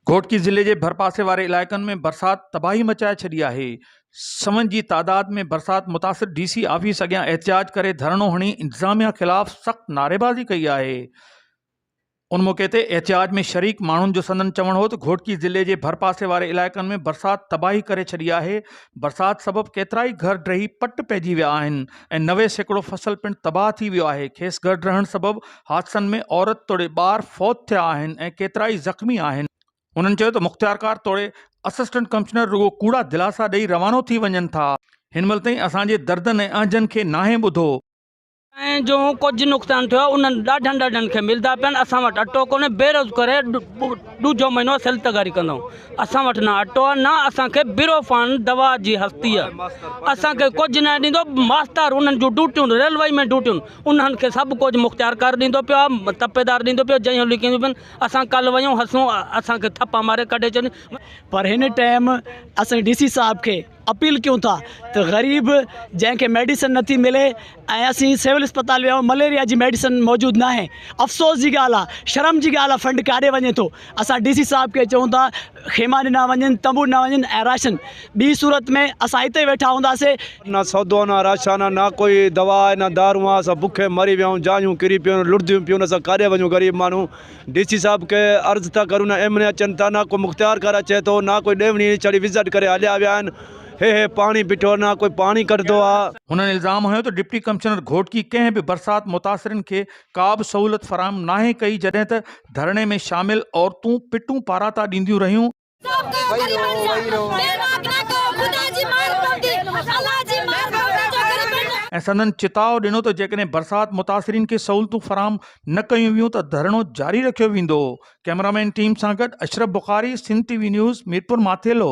گهوٽڪي ضلعي جي ڀرپاسي واري علائقن ۾ برسات تباهي مچائي ڇڏي آهي، سون جي تعداد ۾ برسات متاثر ڊي سي آفيس اڳيان احتجاج ڪري ڌرڻو هڻي انتظاميا خلاف سخت نعريبازي ڪئي آهي، ان موقعي تي احتجاج ۾ شريڪ ماڻهن جو سندن چوڻ هو ته گهوٽڪي ضلعي جي ڀرپاسي واري علائقن ۾ برسات تباهي ڪري ڇڏي آهي، برسات سبب ڪيترائي گهر ڊهي پٽ پئجي ويا آهن ۽ نوي سيڪڙو فصل پڻ تباهه ٿي ويو آهي، کيس گهر ڊهڻ سبب حادثن ۾ عورت توڙي ٻار فوت ٿيا آهن ۽ ڪيترائي زخمي آهن. هنن چيو ته مختيارڪار توڙي اسسٽنٽ ڪمشنر رڳو ڪوڙا دلاسا ڏئي روانو ٿي وڃن ٿا. هن مهل تائين اسان جي دردن ۽ اهنجن کي ناهي ٻڌو. ۽ جو ڪجهه نقصان ٿيو آهي انهن ڏاڍن ڏاڍن کي ملدا پيا آهن، اسان وٽ اٽو ڪونهي، بيروز ڪري ڏوجهو مهينو سيل تغاري ڪندائون، اسان وٽ نه اٽو آهي نه اسان کي برو فان دوا جي هستي آهي، اسان کي ڪجهه ناهي ڏيندو، ماستر انهن جون ڊوٽيون ريلوي ۾ ڊوٽيون انهن کي سڀ ڪجهه مختيارڪار ڏيندو پيو آ، تپيدار ڏيندو پيو جئين هو لڪينديون پين اسان ڪل ويون هسون اسان کي ٿپا ماري ڪڍي ڇڏين. پر هن ٽئم اسين ڊي سي صاحب کي اپيل ڪيون ٿا ته غريب جنهن کي ميڊيسن نٿي ملي ۽ اسين سول اسپتال ويا آهيون مليريا جي ميڊيسن موجود ناهي افسوس جي ڳالهه آ شرم جي ڳالهه آ فنڊ ڪاڏي وڃي ٿو اسان ڊي سي صاحب کي چئون ٿا خيما ڏنا وڃن تنبو ڏنا وڃن ۽ راشن ٻي صورت ۾ اسان هتي ئي ويٺا هونداسي. نه سودو آ نه راشن آ نه ڪوئي دوا آهي نه دارون آهن اسان بکي مري ويا آهيون جايون ڪري پيون لڙديون پيون اسان ڪاڏي وڃون غريب ماڻهو ڊي سي صاحب کي عرض ٿا ڪريون نه ايم اين اي اچن ٿا نه ڪو مختيار ڪار اچي ٿو نه ڪوئي ڏيوڻي ڇڙي وزٽ ڪري هليا ويا آهن هي هي پاڻي بيٺو نه ڪوئي پاڻي ڪڍندو آ. هنن الزام هنيو ته ڊپٽي ڪمشنر گهوٽڪي ڪنهن به برسات متاثرين کي ڪابه سهولت فراهم ناهي ڪئي جڏهن ته ڌرڻي ۾ شامل عورتون پٽون پاراتا ڏينديون رهيون. ۽ سندن چتاء ڏنو ته جيڪڏهن برسات متاثرين کي سهولتون فراهم نه ڪيون ويون ته ڌرڻو جاري رکيو ويندو. ڪئمرامين ٽيم سان گڏ Ashraf Bukhari, Sindh T V news, Mirpur Mathelo.